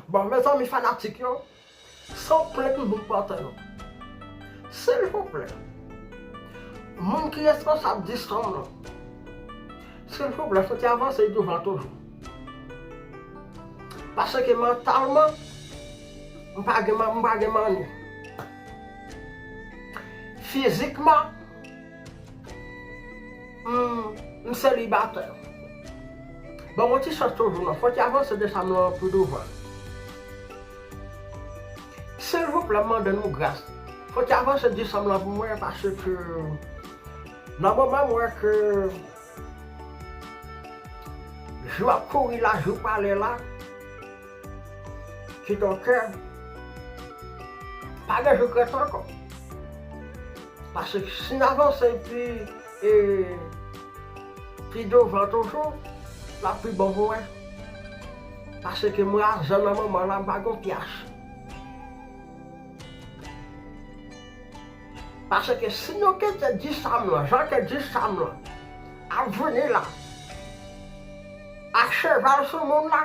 Bon mezanmi fanatik yo San plenk m vin pote nou Silvouplè Moun ki responsab Discom lan Silvouplè fout yo avanse douvan toujou Paske mantalman M pa gen manni Fizikman Humm m selibatè Ban mwen ti chans toujou non Fòk y avanse de sa m lan pi douvan Silvouplè m mande nou gras Fòk y avanse de sa m lan pou mwen paske Nan moman m wè ke Jou ap kouri la jou prale la. Kidonke, pa gen regrèt ankò. Pase si n avanse pi e pi douvan toujou, l ap pi bon pou mwen. Paseke mwen a zan nan manman la m pa gen pyas. Paseke si nou kite di sa m lan, jan ke di sa m lan ap vini la, a cheval sou moun la.